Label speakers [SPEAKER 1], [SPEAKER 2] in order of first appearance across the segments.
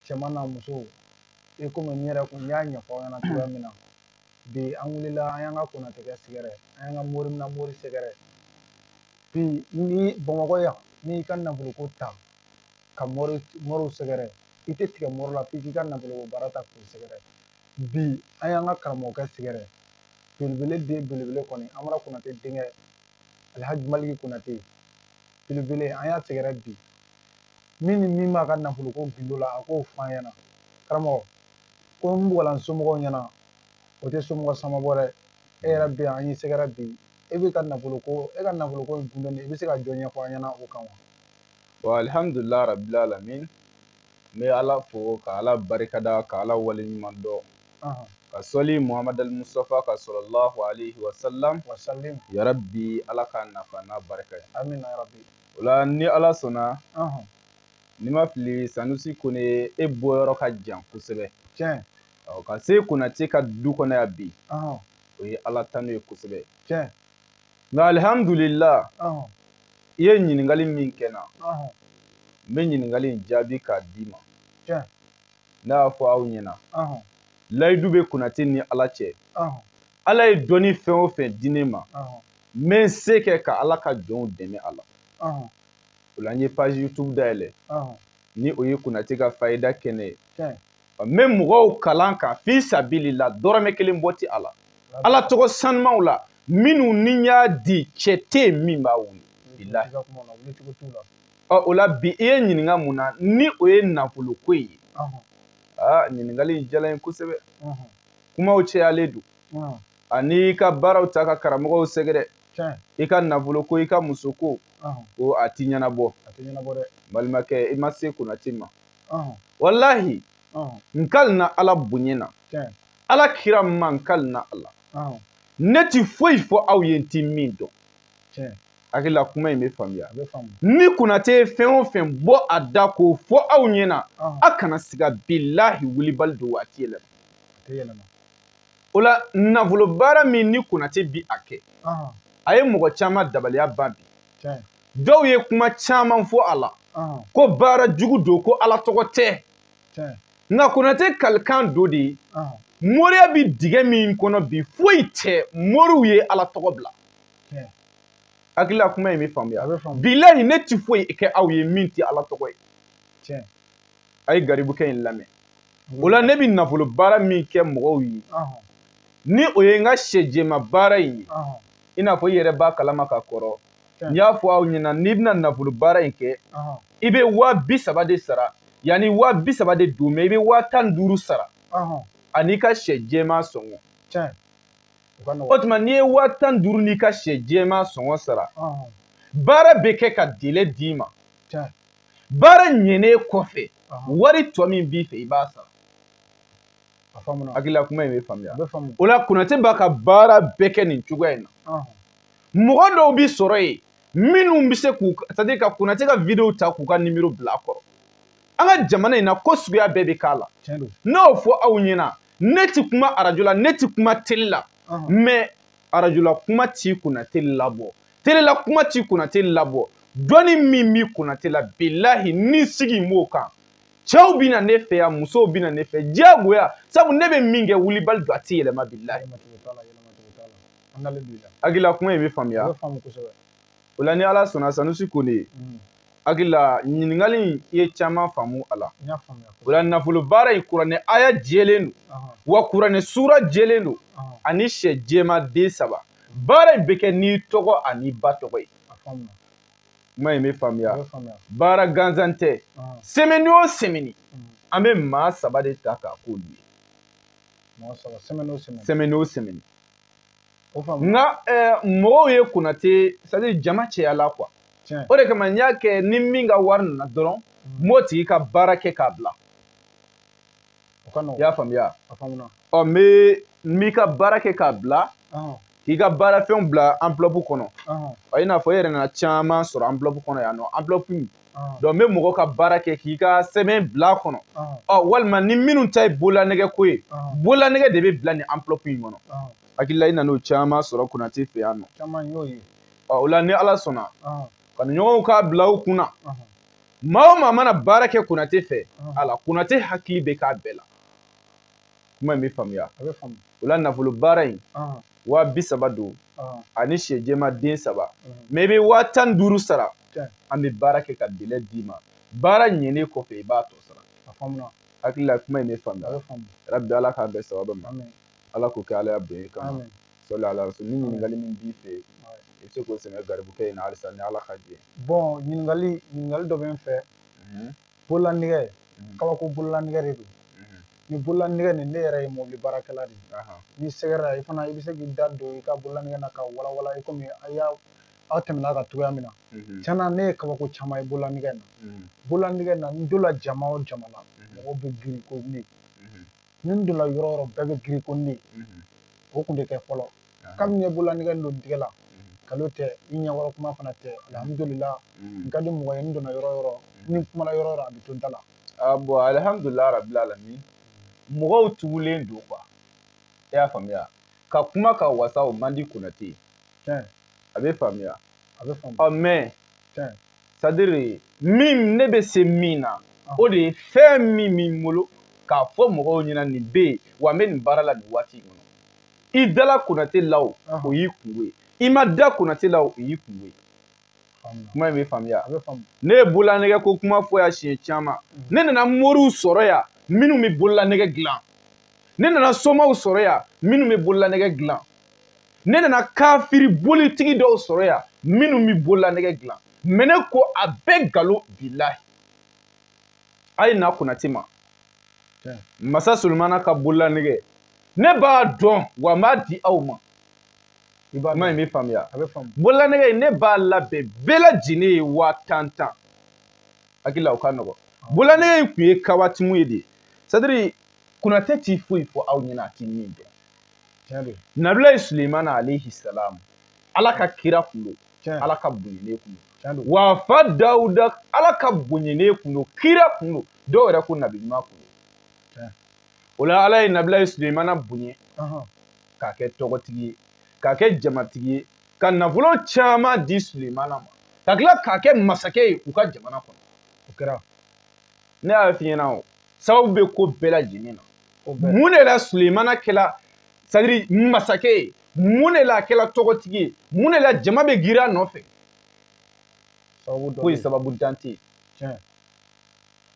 [SPEAKER 1] cɛman n'a musow i komi n yɛrɛ kun n y'a ɲɛfɔ aw ɲɛna cogoya min na bi an wulila an y'an ka konatekɛ sɛgɛrɛ an y'an ka mori na mori sɛgɛrɛ bi ni bamakɔ yan n'i ka nafoloko ta ka moriw sɛgɛrɛ i tɛ tigɛ mori la f'i k'i ka nafoloko baara ta k'u sɛgɛrɛ bi an y'an ka karamɔgɔkɛ sɛgɛrɛ belebele den belebele kɔni an bara konate denkɛ alhaji maliki konate belebele an y'a sɛgɛrɛ bi min ni min b'a ka nafolo ko gindo la a k'o f'an ɲɛna karamɔgɔ ko n bɔgɔlan somɔgɔw ɲɛna o tɛ somɔgɔ sama bɔ dɛ e yɛrɛ bɛ yan an y'i sɛgɛrɛ bi e bɛ ka nafolo ko e ka nafolo ko in gindo i bɛ se ka jɔ ɲɛfɔ an ɲɛna o kan wa wa
[SPEAKER 2] alihamudulila rabil alamin n bɛ ala fo ka ala barikada ka ala waleɲuman dɔn ka sɔli muhamadu al mustafa kan salalahu alayhi wa salam yarabi ala k'an nafa n'a barika ye amina yarabi
[SPEAKER 1] o la ni ala
[SPEAKER 2] sɔnna ni n ma fili sanusi kone e bɔyɔrɔ ka jan kosɛbɛ
[SPEAKER 1] tiɲɛ ka
[SPEAKER 2] se konate ka du kɔnɔ yan bi o ye ala tanu ye kosɛbɛ
[SPEAKER 1] tiɲɛ
[SPEAKER 2] nka alihamdulila i ye ɲininkali min kɛ n na n bɛ ɲininkali in jaabi k'a d'i ma
[SPEAKER 1] ne
[SPEAKER 2] y'a fɔ aw ɲɛna layidu bɛ konate ni ala cɛ ala ye dɔnni fɛn o fɛn di ne ma n bɛ n se kɛ ka ala ka jɔnw dɛmɛ a la o la n ye page youtube dayɛlɛ ni o ye konate ka fayida kɛnɛ ye n bɛ mɔgɔw kalan kan fi sabilila dɔrɔmɛ kelen bɔ ti a la ala tɔgɔ sanumaw la minnu ni n y'a di cɛ tɛ yen min b'a wuli ɔ o la bi i ye n ɲininka min na ni o ye nafolo ko ye aa ɲininkali in diyala n ye kosɛbɛ kumaw cɛyalen don ani i ka baaraw ta ka karamɔgɔw sɛgɛrɛ i ka nafolo ko i ka muso ko ko a ti ɲɛnabɔ balimakɛ i ma se konate ma walahi n kalina ala bonya na ala kira ma n kalina ala ne tɛ foyi fɔ aw ye n tɛ min dɔn hakili la kuma in bɛ faamuya ni konate ye fɛn o fɛn bɔ a da k'o fɔ aw ɲɛna a kana siga bilahi wulibali don waati yɛlɛma o la nafolo baara min ni konate bi a kɛ a ye mɔgɔ caman dabaliya ban bi dɔw ye kuma caman fɔ a la ko baara jugu don ko ala tɔgɔ tɛ nka konate kalikan don dɛ moriya bi dingɛ min kɔnɔ bi foyi tɛ moriw ye ala tɔgɔ bila hakilila kuma in bɛ faamuya bilahi ne ti foyi kɛ aw ye min tɛ ala tɔgɔ ye a ye garibukɛ in lamɛn o la ne bɛ nafolo baara min kɛ mɔgɔw ye ni o ye n ka sɛjɛma baara in ye i n'a fɔ i yɛrɛ b'a kalama ka kɔrɔ n y'a fɔ aw ɲɛna n'i bɛna nafolo baara in kɛ i bɛ waa bi saba de sara yanni waa bi saba de don mais i bɛ waa tan duuru sara an'i ka sɛ jɛma sɔngɔ o tuma n'i ye waa tan duuru n'i ka sɛ jɛma sɔngɔ sara baara bɛ kɛ ka délai d'i ma baara ɲɛnen kɔfɛ wari tɔ min b'i fɛ i b'a sara hakilila kuma in bɛ faamuya o la konate b'a ka baara bɛɛ kɛ nin cogoya in na mɔgɔ dɔw bɛ sɔrɔ yen minnu bɛ se k'u c'est-à-dire ka konate ka video ta k'u ka nimero bila a kɔrɔ an ka jamana in na ko suguya bɛɛ bɛ k'a la n'o fɔ aw ɲɛna ne ti kuma arajo la ne ti kuma tele la mais arajola kuma ti konate labɔ telela kuma ti konate labɔ dɔnni min bi konate la bilahi ne sigin b'o kan cɛw bɛ na ne fɛ yan musow bɛ na ne fɛ diyagoya sabu ne bɛ min kɛ wulibali don a tɛ yɛlɛma bilahi hakilila kuma in bɛ faamuya o la ni ala sɔnna sanusi kone ye mm. hakili la ɲininkali in i ye caman faamu a la o la nafolo baara in kuranɛ aya jɛlen don wa kuranɛ suura jɛlen don ani sɛ jɛma den saba baara in bɛ kɛ n'i tɔgɔ an'i ba tɔgɔ ye kuma in bɛ faamuya baara gansan tɛ semaine o semaine mm. an bɛ maa saba de ta k'a k'olu ye semaine o semaine nka eh, mɔgɔw ye konate c'est-à-dire jama cɛyala quoi o de kama n y'a kɛ ni min ka wari nana dɔrɔn n b'o tigi ka baara kɛ k'a bila i y'a faamuya ɔ n bɛ n b'i ka baara kɛ k'a bila k'i ka baarafɛnw bila enveloppe kɔnɔ i n'a fɔ e yɛrɛ nana caman sɔrɔ enveloppe kɔnɔ yan nɔ enveloppe donc n bɛ mɔgɔ ka baara kɛ k'i ka sɛbɛn bila a kɔnɔ ɔ walima ni minnu ta ye bololanɛgɛ ko ye bololanɛgɛ de bɛ bila nin enveloppe in kɔnɔ hakilila i nana o caman sɔrɔ konate fɛ yan nɔ ɔ o la ni ala sɔnna kanuɲɔgɔnw k'a bila u kun na maa o maa mana baara kɛ konate fɛ ala konate hakili bɛ k'a bɛɛ la kuma in bɛ faamuya a bɛ faamu o la nafolo baara in waa bi saba don ani sɛ jɛma den saba mais i bɛ waa tan duuru sara an bɛ baara kɛ ka délai d'i ma baara ɲɛnen kɔfɛ i b'a tɔ sara a faamuna hakili la kuma in bɛ faamuya a bɛ faamu rabi ala k'an bɛn sababa ma ala k'o kɛ ala ya bonya kama sɔli ala rasul ni ɲininkali min b'i fɛ i bɛ se k'o sɛmɛ garibukɛ in na halisa ni ala ka jɛ bɔn ɲininkali
[SPEAKER 1] ɲininkali dɔ bɛ n fɛ bololanɛgɛ mhm. kabako bololanɛgɛ de don mhm. ni bololanɛgɛ nin ne yɛrɛ ye mobili baarakɛla de ye ni sɛgɛrɛ i fana i bɛ se k'i da don i ka bololanɛgɛ na ka walawala i komi a y'a aw tɛmɛna kan cogoya min na mhm. tiɲɛ na ne ye kabako caman ye bololanɛgɛ na bololanɛgɛ na n donna jama o jama la mɔgɔw bɛ girin ko ne ni n donna yɔrɔ o yɔrɔ bɛɛ bɛ girin ko ne o tun tɛ kɛ fɔlɔ kabini n ye bololanɛgɛ don tigɛ la nkalon tɛ i ɲɛkɔrɔ kuma fana tɛ alihamudulila n ka di mɔgɔ ye n donna yɔrɔ o yɔrɔ ni n kumana yɔrɔ o yɔrɔ a bɛ to n ta la bon
[SPEAKER 2] alihamudulila rabil alamin mɔgɔw tugulen don quoi i y'a faamuya ka kuma ka wasa o man di konate ye a bɛ faamuya a bɛ faamuya ɔ mais c'est-à-dire min ne bɛ se min na o de ye fɛn min bɛ n bolo k'a fɔ mɔgɔw ɲɛna nin bɛ yen wa n bɛ nin baara la nin waati in kɔnɔ i dala konate la o o y'i kungo ye i ma da konate la o y'i kungo ye kuma in bɛ faamuya ne ye bololanɛgɛ ko kuma fɔ yan siɲɛ caman ne nana moriw sɔrɔ yan minnu bɛ bololanɛgɛ dilan ne nana somaw sɔrɔ yan minnu bɛ bololanɛgɛ dilan ne nana kafiri bolitigi dɔw sɔrɔ yan minnu bɛ bololanɛgɛ dilan mais ne ko a bɛɛ nkalon bilahi a ye na konate ma masa solomana ka bololanɛgɛ ne b'a dɔn wa n b'a di aw ma kuma in bɛ faamuya bololanɛgɛ in ne b'a labɛn bɛɛ lajɛlen ye waa tan tan n hakili la o ka nɔgɔn bololanɛgɛ in tun ye kawatimu ye de c'est-à-dire konate t'i foyi fɔ aw ɲɛna a t'i min dɔn nabilayi suleimana alayhi salam ala ka kira kun don ala ka bonyene kun don wa a fa dawuda ala ka bonyene kun don kira kun don dɔw yɛrɛ ko nabi ɲuman kun don o la ala ye nabilayi suleimana bonye k'a kɛ tɔgɔtigi ye k'a kɛ jamatigi ye ka nafolo caman di suleimana ma ka tila k'a kɛ masakɛ ye u ka jamana kɔnɔ o kɛra ne y'a f'i ɲɛna o sababu bɛ ko bɛɛ lajɛlen na mun de la sulemana kɛla c'est-à-dire masakɛ ye mun de la a kɛla tɔgɔtigi ye mun de la jama bɛ girin a nɔfɛ foyi sababuntan tɛ yen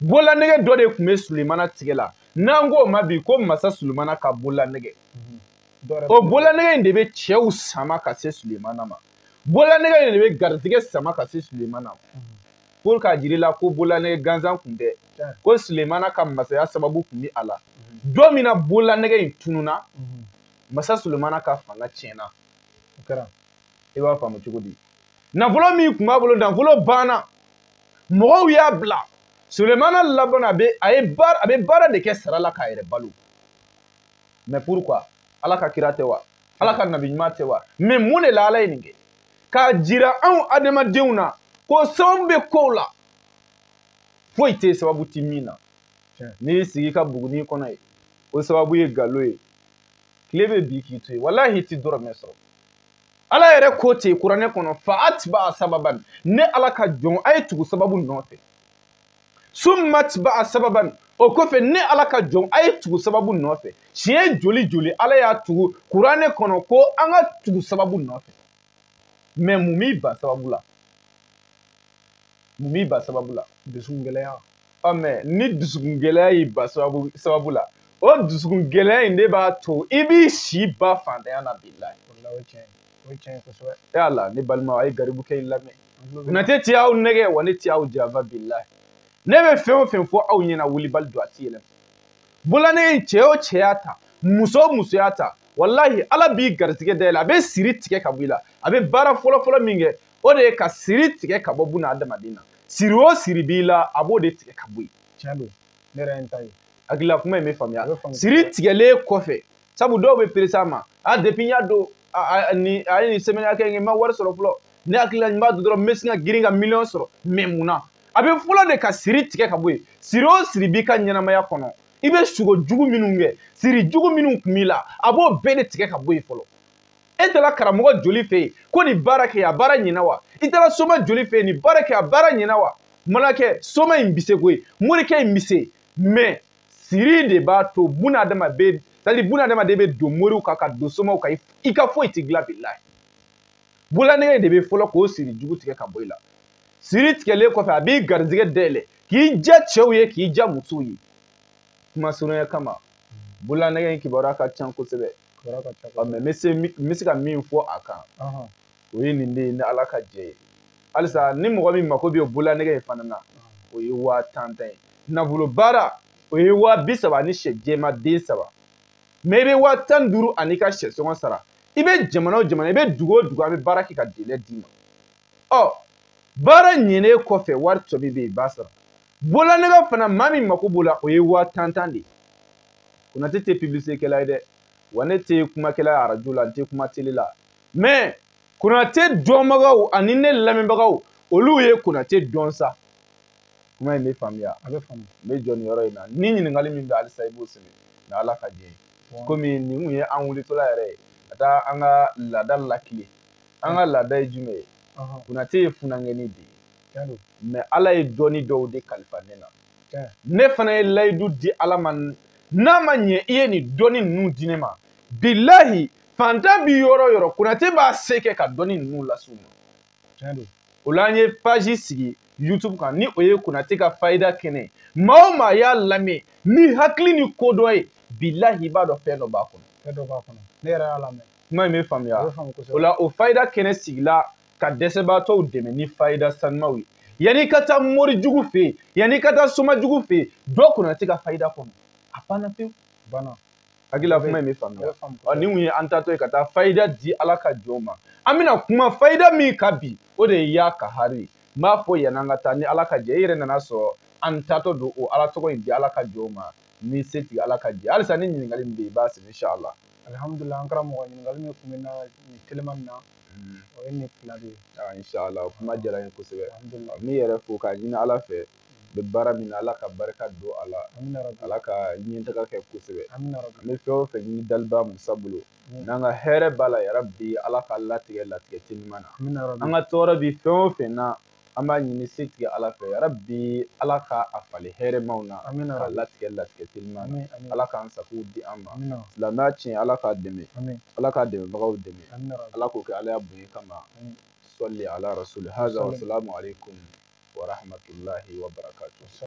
[SPEAKER 2] bololanɛgɛ dɔ de tun bɛ sulemana tigɛ la n'an k'o ma bi ko masa sulemana ka bololanɛgɛ mhm. o bololanɛgɛ in de bɛ cɛw sama ka se sulemana ma bololanɛgɛ in de bɛ garijɛgɛ sama ka se sulemana ma mhm. pour k'a jira i la ko bololanɛgɛ gansan tun tɛ ko sulemana ka masaya sababu tun bɛ a la don min na bololanɛgɛ in tununa masa sulemana ka fanga tiɲɛna o kɛra i b'a faamu cogo di nafolo min tun b'a bolo nafolo banna mɔgɔw y'a bila sulemana labanna a bɛ a ye baara a bɛ baara de kɛ sara la k'a yɛrɛ balo mais pourquoi ala ka kira tɛ wa ala ka nabi ɲuman tɛ wa mɛ mun de la ala ye nin kɛ k'a jira anw adamadenw na ko sababu bɛ kow la foyi tɛ sababu ti min na n'i y'i sigi ka buguni kɔnɔ ye o sababu ye galo ye tile bɛ bi k'i to yen walahi i ti dɔrɔmɛ sɔrɔ ala yɛrɛ ko ten kuranɛ kɔnɔ fa atba'a sababan ne ala ka jɔn a ye tugu sababu nɔfɛ summa atba'a sababan o kɔfɛ ne ala ka jɔn a ye tugu sababu nɔfɛ siɲɛ joli joli ala y'a tugu kuranɛ kɔnɔ ko an ka tugu sababu nɔfɛ mɛ mun b'i ba sababu la mun b'i ba sababu la dusukun gɛlɛya ɔ mɛ ni dusukun gɛlɛya y'i ba sababu la o dusukun gɛlɛya in de b'a to i b'i si ba fantanya na bilahi o ye tiɲɛ ye o ye tiɲɛ ye kosɛbɛ yala ne balima a ye garibukɛ in lamɛn nate ti aw nɛgɛ wa ne ti aw janfa bilahi ne bɛ fɛn o fɛn fɔ aw ɲɛna wulibali don a ti yɛlɛma bulanɛgɛ in cɛ o cɛ y'a ta muso o muso y'a ta walahi ala b'i garisigɛ dayɛlɛ a bɛ siri tigɛ ka bɔ i la a bɛ baara fɔlɔfɔlɔ min kɛ o de ye ka siri tigɛ ka bɔ buna adamaden na siri o siri b'i la a b'o de tigɛ ka bɔ yen tiɲɛ don ne yɛrɛ ye n ta ye hakilila kuma in bɛ faamuya siri tigɛlen kɔfɛ sabu dɔw bɛ perese a ma a depi n y'a don ni a ye nin sɛmɛni hakɛ kɛ n ma wari sɔrɔ fɔlɔ ne hakili la n b'a don dɔrɔn n bɛ sin ka girin ka miliyɔn sɔrɔ mɛ mun na a bɛ fɔlɔ de ka siri tigɛ ka bɔ yen siri o siri b'i ka ɲɛnamaya kɔnɔ i bɛ sugo jugu minnu kɛ siri jugu minnu kun b'i la a b'o bɛɛ de tigɛ ka bɔ yen fɔlɔ e taara karamɔgɔ joli fɛ yen ko nin baara kɛ a baara ɲɛna wa i taara soma joli fɛ yen nin baara kɛ a baara ɲɛna wa mana kɛ soma in bɛ se koyi morikɛ in bɛ se mɛ siri de b'a to buna adamaden sadi buna adamaden bɛ don moriw kan ka don somaw kan i ka foyi tɛ dilan bilahi bulanɛgɛ de bɛ fɔlɔ k'o siri jugu tigɛ ka bɔ i la siri tigɛlen kɔfɛ a b'i garijɛgɛ dayɛlɛ k'i diya cɛw ye k'i diya musow ye kuma surunya kama bulanɛgɛ in kibaruya ka ca kosɛbɛ bɛ se ka min fɔ a kan o ye nin de ye ni ala ka jɛ ye halisa ni mɔgɔ min mako bɛ bololanɛgɛ in fana na o ye waa tan tan ye nafolo baara o ye waa bi saba ni sɛ jɛma den saba mɛ i bɛ waa tan duuru ani i ka sɛ sɔngɔ sara i bɛ jamana o jamana i bɛ dugu o dugu an bɛ baara kɛ ka delɛ d'i ma ɔ baara ɲɛnen kɔfɛ wari tɔ min bɛ yen i b'a sara bololanɛgɛ fana maa min mako b'o la o ye waa tan tan de ye konate tɛ pibilisitekɛla ye dɛ wa ne tɛ kumakɛla ye arajo la n tɛ kuma tele la mɛ konate dɔnbagaw ani ne lamɛnbagaw olu ye konate dɔn sa kuma in bɛ faamuya a bɛ faamu n bɛ jɔ nin yɔrɔ in na ni ɲininkali min bɛ halisa i b'o sɛbɛn ni ala ka jɛ ye komi nin kun ye an wulitɔla yɛrɛ ye ka taa an ka laada lakile an ka laada ye jumɛn ye konate ye funankɛni de ye mais ala ye dɔnni dɔw de kalifa ne na ne fana ye layidu di ala ma n'a ma ɲɛ i ye nin dɔnni ninnu di ne ma bilahi fantan bi yɔrɔ o yɔrɔ konate b'a se kɛ ka dɔnni ninnu las'u ma o la an ye page sigi youtube kan ni o ye konate ka fayida kɛnɛ maa o maa y'a lamɛn ni hakili ni kodɔn ye bilahi i b'a dɔn fɛn dɔ b'a kɔnɔ fɛn dɔ b'a kɔnɔ ne yɛrɛ y'a lamɛn kuma in bɛ faamuya o la o fayida kɛnɛ sigila ka dɛsɛbaatɔw dɛmɛ ni fayida sanumaw ye yanni ka taa mori jugu fɛ yen yanni ka taa soma jugu fɛ yen don konate ka fayida kɔnɔ a banna pewu banna hakili la kuma in bɛ faamuya ɔ nin kun ye an taatɔ ye ka taa fayida di ala ka jɔnw ma an bɛna kuma fayida min kan bi o de ye ya kahari n b'a fɔ yan'an ka taa ni ala ka jɛ i yɛrɛ nana sɔrɔ an taatɔ don o ala tɔgɔ in di ala ka jɔnw ma ni setigi ala ka jɛ halisa ni ɲininkali min bɛ yen i b'a sɛbɛn inshallah alihamudulila an karamɔgɔ ɲininkali min kun bɛ na nin telimanin na o ye nin fila de ye inshallah kuma diyara n ye kosɛbɛ n b'i yɛrɛ fo k'a ɲini ala fɛ bɛ baara min na ala ka barika don a la ala ka ɲɛtaga kɛ kosɛbɛ an bɛ fɛn o fɛn ɲini daliba masa bolo n'an ka hɛrɛ b'a la yarabi ala ka latigɛ latigɛ teliman na an ka tɔɔrɔ bi fɛn o fɛn na an b'a ɲini setigi ala fɛ yarabi ala ka a falen hɛrɛmaw na ka latigɛ latigɛ teliman na ala k'an sago di an ma silamɛya tiɲɛ ala k'a dɛmɛ ala k'a dɛmɛbagaw dɛmɛ ala k'o kɛ ala y'a bonya kama sɔli ala rasuli haza wasalamu alaikum warahamatulahi wa barakatu